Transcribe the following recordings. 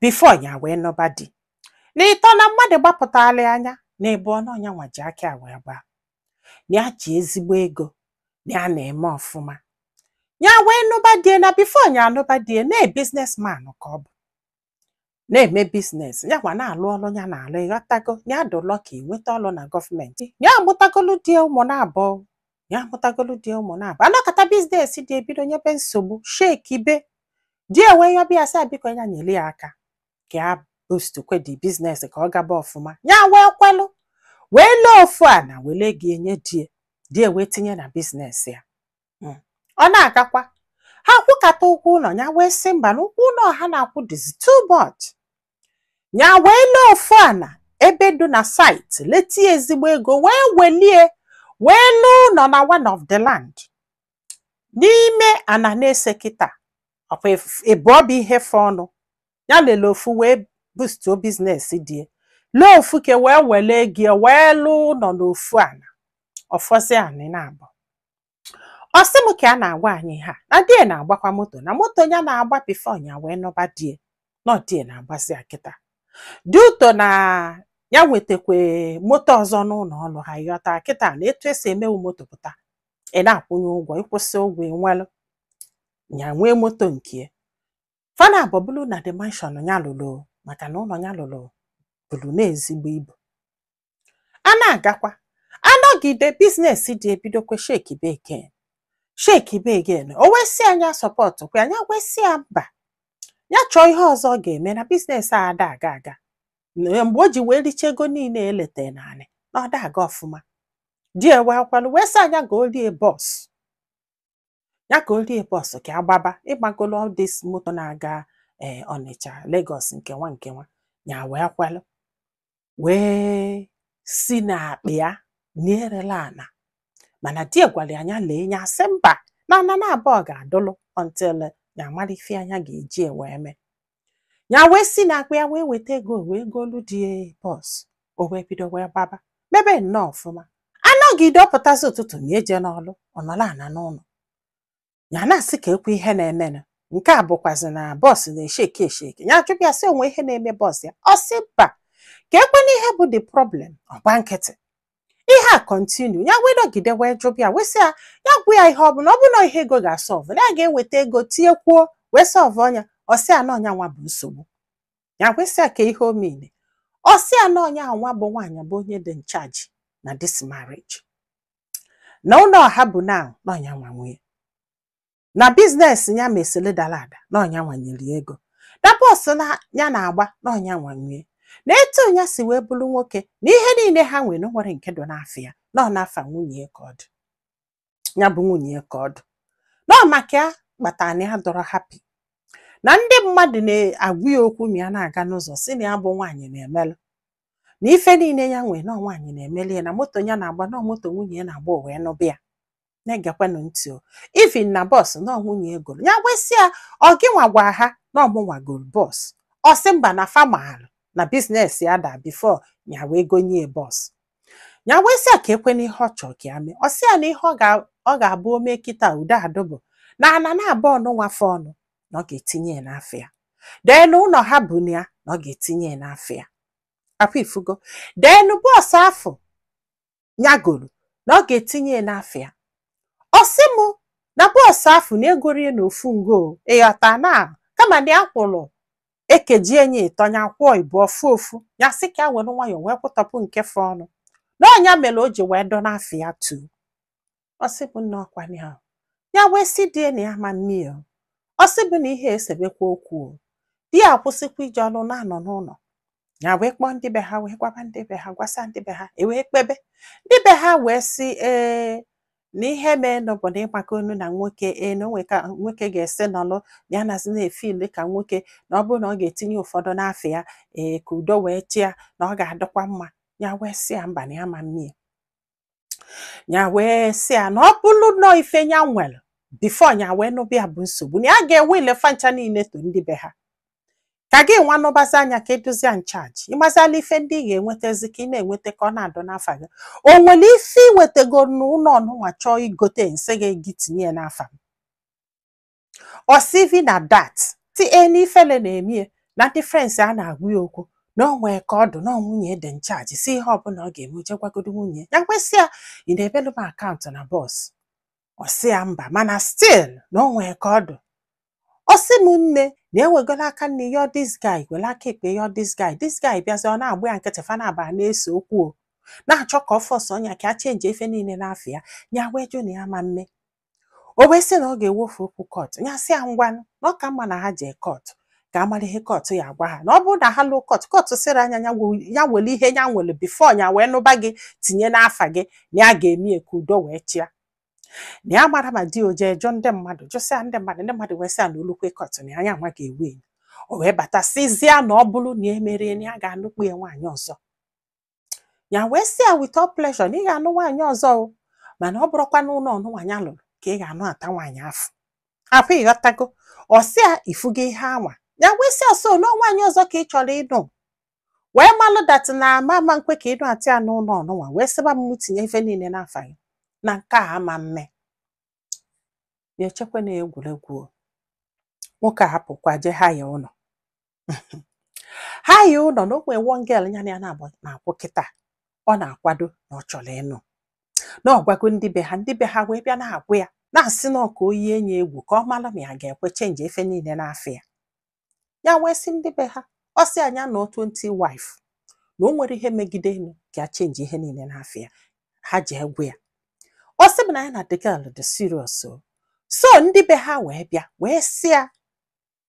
before ya wee nụba di n'ịtọ na mmadụ gbapụtalụ nya n'ịbụọ na ọ nya nwa ji aka ya wee gbaa na ya ji ezigbo ego na ya na-eme ọfụma ya wee nụba di e na before ya anụba di e na businessman ka ọ bụ na-eme business ya nwa na-alụ ọlụ ya na-alụ ịghọtago ya dị lucky nweta ọlụ na government ya amụtagolu di e ụmụ na-abụọ ya mụtagolu di ụmụ na-abụọ a nọkata business di e bido nyebe nsogbu shekibe di e wee yọba ya sị biko ya nyere ya aka ka ya boost kwe the business ka ọ gaba ọfụma ya wee kwelụ wee lee ofu ana wele ego nye di e di e wee tinye na business ya Mm. ọ na-agakwa ha kwụkata ụgwọ ụlọ ya wee sị mba na ụgwọ ụlọ ha na-akwụ dịzi too much ya wee lee ofu ana ebe dị na site lete ezigbo ego wee welie wee lụọ ụlọ na one of the land n'ime ana n'ise kịta ọkwa ịbụọ bụ ihe fọọnụ ya lele ofu wee boostuo business di e lee ofu ke wee wele ego wee lụọ ụlọ n'ofu ana ọ fọzie ana na-abụ ọ sị m ka a na-agwa anyị ihe a na di e na-agbakwa moto na moto ya na-agba before ya wee nụba di e na ọ di e na-agbazi ya kịta due to na ya nwetakwa moto ọzọ n'ụlọ ọlụ ha ị ghọta kịta na etu e si eme wụ moto pụta ị na-akwụnye ụgwọ ị kwụsịa ụgwọ ị nwelụ ya nwee moto nke fa naabọ bulu na the mansion ya lụlụ maka na ụlọ ya lụlụ bulu nnọọ ezigbo ibu a na-agakwa a nọgide business di e bidokwe shekibe again shekibe again o wee sị nya support kwa nya wee sị ya mba ya chọọ ihe ọzọ ọ ga-eme na business a ada aga aga Na mgbe o ji wee richa ego niile e lete n'ana na ọ da aga ọfụma di e wee kwalụ wee sị nya goolu e bus ya goolu e bus ka ọ gbaba ịgbagolo all this moto na-aga ee Ọnịcha Lagos nke nwa nke nwa ya wee kwalụ wee si n'akpa ya na erela ana mana di e gwalụ nya lee nya asị mba na ana na-abụọ ga-adụlụ until ya mara ife nya ga-eji ya wee mee ya wee si n'akpa ya wee weta ego wee golu di ya bus o wee bido wee gbaba mebe nnọọ ọfụma a nọgide ọ pụtazi ụtụtụ nya eje n'ọlụ ọ nọlụ ana n'ụlọ ya na-asị kee kwe ihe na-emenụ nke a bụkwazi na bus na-esheki esheki ya ajụba ya sị o nwe ihe na-eme bus ya ọ sị mba kee kwenụ ihe bụ the problem ọ gba nkịtị ihe a continue ya wee nọgide wee jụba ya wee sị ya ya gwa ya ihe ọ bụ na ọ bụlụ ihe ego ga-asolve na ya ga-eweta ego tinyekwuo wee solvuo ya ọ sị ya na ọ nya nwa bụ nsogbu ya wee sị ya kee ihe o mele ọ sị ya na ọ nya nwa bụ nwaanyị bụ onye dị in charge na this marriage na ụlọ ha bu na n'ọ nya nwa nwe na biznes ya mesịrị dara ada n'ọ nya nwa nyere ego na bọs na ya na-agba n'ọ nya nwa nwe na etu ya si wee bụrụ nwoke na ihe niile ha nwere na o nwerọ nke dị n'afa ya na ọ n'afa nwunye ya ka ọ dị ya bụ nwunye ya ka ọ dị na ọ maka ya kpatara na ya adọrọ hapi na ndị mmadụ na-agwa ya okwu ma ya na-aga n'ụzọ sị na ya bụ nwaanyị na-emelụ na ife niile ya nwee na ọ nwaanyị na-emeli ya na moto ya na-agba na ọ moto nwunye ya na-agba o wee nụba ya na-egekwanụ ntị o ivin na bọs na ọ nwunye ya goro ya wee sị ya ọ gị nwa gwa ha na ọ mụ nwa goro bọs ọ sị mba na fa malụ na biznes ya da bifo ya wee gonye ya bọs ya wee sị ya kekwanụ ihe ọ chọrọ ka ya mee ọ sị ya na ihe ọ ga- ọ ga-abụ o mee kịta udo adụ bụ na ana naabụọ nụnwa fọọnụ na ọ ga-etinye ya n'afa ya denu ụlọ ha bu na ya na ọ ga-etinye ya n'afa ya ọkwa ị fụgo denu bọọsụ afụ nya goro na ọ ga-etinye ya n'afa ya ọ sị mụ na bọọsụ afụ na e gorọ ya n'ofu ngo ị ghọta na kama na ya kwụrụ e kejie nya ịtọ nya kwụọ ịbụọ fọ ofu ya sị ka ya were nwayọọ wee kwụtọpụ nke fọọnụ na ọ nya mere o ji wee dọ n'afa ya tu ọ sị bụ na ọkwa nya ahụ ya wee sị di ya na ya ma mme ya o. ọ sị bụ na ihe esebekwa okwu o. di ya akwụsịkwa ije ọrụ na-anọ n'ụlọ ya wee kpọọ ndị be ha wee gwaba ndị be ha gwasa ndị be ha e wee kpebe ndị be ha wee sị ee na ihe meenụ bụ na ị makwanụ na nwoke ee na o nwe ka nwoke ga-esi nọlụ ya nazi na-efili ka nwoke na ọ bụrụ na ọ ga-etinye ụfọdụ n'afa ya ee ka udo wee chịa na ọ ga-adịkwa mma ya wee sị ya mba na ya ma mme ya ya wee sị ya na ọ bụrụ na ọ ife ya nwere bifo ya wee nụba ya bụ nsogbu na ya ga-ewiili fa ncha niile to ndị be ha ka gị nwa nụbazia nya ka ị dụzia nchaji ị mazia na ife ndị ị ga-enwetazi ka ị na-enweta ka ọ na-adọ n'afa gị o nwere ife i wetago n'ụlọ nụnwa chọọ igote m sị gị gị tinye ya n'afa m ọ sị ivin at dat stil na ifele na-eme ya na ndị frens ya na-agwa ya okwu na o nwee ka ọ dụ na ọ nwunye dị nchaji sị ihe ọbụla ọ ga-eme je gwagodo nwunye ya wee sị ya ị na-ebelu m akaụntụ na bọs ọ sị ya mba mana stil na o nwee ka ọ dụ ọ sị m nne na e wegolo aka nni yọọ dis guy were aka ekpe yọọ dis guy dis guy bịazi ọ na-agba ya nkịtị fa naabọ na-ese okwu o na-achọ ka ọ fọsọọ nya ka a chenji ife niile n'afa ya ya wee jụ na ya ma mme o wee sị na ọ ga-ewefe okwu kọtụ ya sị ya ngwanụ na ọ ka mma na ha jee kọtụ ka a mara ihe kọtụ ya agwa ha na ọ bụrụ na ha luo kọtụ kọtụ sịrị nya ya we- ya were ihe ya nwere bifo ya wee nụba gị tinye n'afa gị na ya ga-eme ya ka udo wee chịa na ya amarọ ma di ya o je jụọ ndị mmadụ jụsịa ndị mmadụ ndị mmadụ wee sị ya na o lukwe kọtụ na ọ nya nwa ga-ewini o wee bata sịzịa na ọ bụrụ na e merọ ya na ya ga-anụkpu ya nwaanyị ọzọ ya wee sị ya with all pleasure na ị ga-anụ nwaanyị ọzọ o mana ọ bụrọkwa n'ụnọ ọnụnwa ya lụrụ ka ị ga-anụata nwaanyị afụ afụ ịghọtago ọ sị ya ị fụgo ihe anwa ya wee sị ya so na nwaanyị ọzọ ka ị chọrọ ịnụ wee malụ dat na m ama nkwe ka ị nụata ya n'ụnọ ọnụnwa wee sịba m mụ tinye ife niile n'afa gị na nke a ama mme ya echekwa na egwuregwu o. nwoke a hapụkwa jee haya ụnọ haya ụnọ na o nwee one girl ya na ya naabụ na-akwụ kịta ọ na-akwado na ọ chọrọ ịnụ na ọ gwago ndị be ha ndị be ha wee bịa na-agwa ya na-asị na ọ ka o yie nya egwu ka ọ mara ma ya ga-ekwe chenji ife niile n'afa ya ya wee sị ndị be ha ọ sị nya nụọ 20 wife na o nwere ihe megide enu ka ya chenji ihe niile n'afa ya ha jee gwa ya ọ sị m na ya na the girl dị serious o so ndị be ha wee bịa wee sị ya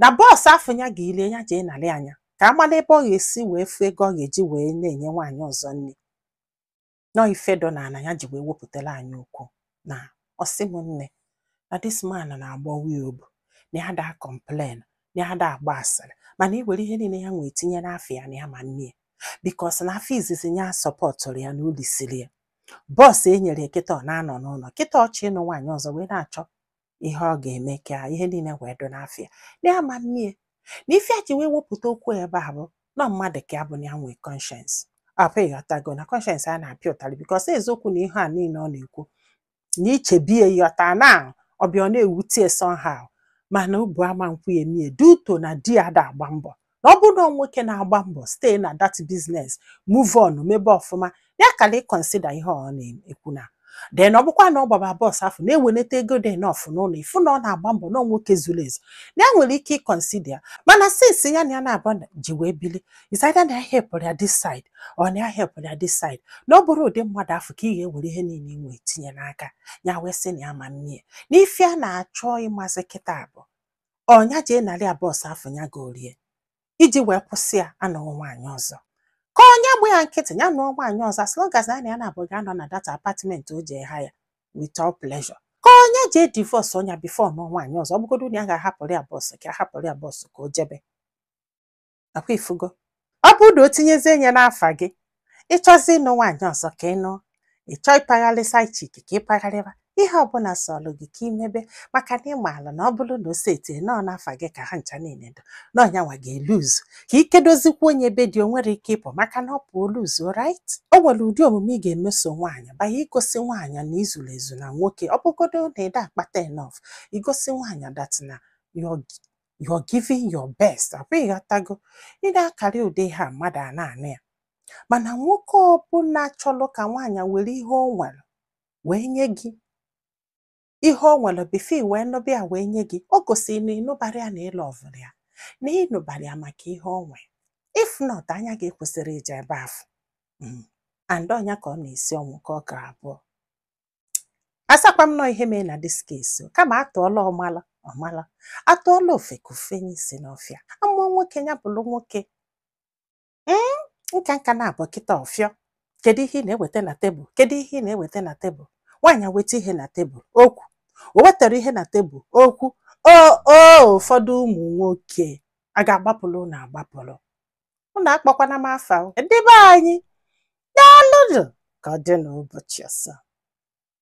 na bọs afụ ya golie ya jee narị ya nya ka a mara ebe ọ ga-esi wee fụ ego ọ ga-eji wee na-enye nwaanyị ọzọ nri na ọ ife dọ na ala ya ji wee wepụtara anyị okwu na ọ sị m nne na this man na-agbawa ya obu na ya da kọmplen na ya da agba asịrị mana iwere ihe niile ya nwee tinye n'afa ya na ya ma mme ya bikos na afọ izizi ya sọpọtụrụ ya na o lisiri ya bọs e nyere ya kịta ọ na-anọ n'ụlọ kịta ọ chọ ịnụ nwaanyị ọzọ wee na-achọ ihe ọ ga-eme ka ihe niile wee dụ n'afa ya na ya ma mmie na ife a ji wee wepụta okwu ebe a bụ na mmadụ ka ya bụ na ya nwee kọnshens afụ ịghọtago na kọnshens a na-apịa ụtarị bikọs eziokwu na ihe a niile ọ na-ekwu na i chebie ya ọta na ọ bịa ọ na-ewute somehow mana obu ama nkwe ya emie due to na di ya da agba mbọ na ọ bụrụ na nwoke na-agba mbọ stay na that business move on mebe ọfụma ya kala ịkọnsida ihe ọ na-ekwu na den ọ bụkwa na ọ gbaba bọs afụ na-eweleta ego dị enof n'ụlọ ị fụ na ọ na-agba mbọ na nwoke zuru ezu na ya nwere ike ịkọnsida ya mana sinsi ya na ya naabụ ji wee bili is either na ya hepụrụ ya this side or na ya hepụrụ ya this side na ọ bụrọ ụdị mmadụ afụ ka ị ga-ewere ihe niile ị nwee tinye n'aka ya wee sị na ya ma mmie na ife a na-achọ ịmazị kịta bụ ọ nya jee narị ya bọsụ afụ ya gorie iji wee kwụsị ya ịnụ nwaanyị ọzọ ka ọ nya gba ya nkịtị ya nụọ nwaanyị ọzọ as long as nya na ya naabụ ga-anọ na dat apatment o jee haya with all pleasure ka ọ nya jee divọsọ nya bifo nụọ nwaanyị ọzọ ọ bụgodo na ya ga-ahapụrụ ya bọs ka a hapụrụ ya bọs ka o jebe akwa ị fụgo ọ bụrụ na o tinyezie nye n'afa gị ị chọzị ịnụ nwaanyị ọzọ ka ị nụọ ị chọọ ịpagharị side chick ka ị pagharịba ihe ọbụla sọlụ gị ka i mebe maka na ị maala na ọ bụrụ na o setie na ọ n'afa gị ka ha ncha niile dụ na ọ nyanwa ga-eluzu ka i kedozikwa onye be di o nwerọ ike ịpụ maka na ọ pụọ o luzu right o nwere ụdị omume ị ga-emeso nwaanyị by igosi nwaanyị na i zuru ezu na nwoke ọ bụgodo na ị da akpata enof igosi nwaanyị dat na your you're giving your best akwa ị ghọtago ị na-akarị ụdị ihe a mmadụ a na-anụ ya mana nwoke ọbụla chọrọ ka nwaanyị were ihe o nwere wee nye gị ihe o nwere before ị wee nụba ya wee nye gị o gosiri na ị nụbara ya na ị lọvụrọ ya na ị nụbara ya maka ihe o nwere if not anya gị ekwesịrọ ije ebe afụ Mm. and ọ nya ka ọ na-esi ọnwụ ka ọ gara abụọ asakwa m na ọ ihe mee na this case o, kama a tụọla ọmala ọ mala a tụọla ofeke o fenye isi n'ọfịa a mụọ nwoke ya bụrụ nwoke Mm, nka nka na-abụ kịta ọfịọ kedu ihe ị na-eweta na tebụl kedu ihe ị na-eweta na tebụl nwaanyị weta ihe na tebụl okwu o wetarọ ihe na tebụl okwu o o ụfọdụ ụmụ nwoke a ga-agbapụrụ na agbapụrụ unu akpọkwana m afa o. ndị be anyị daalụnụ ka ọ dị n'ụbọchị ọzọ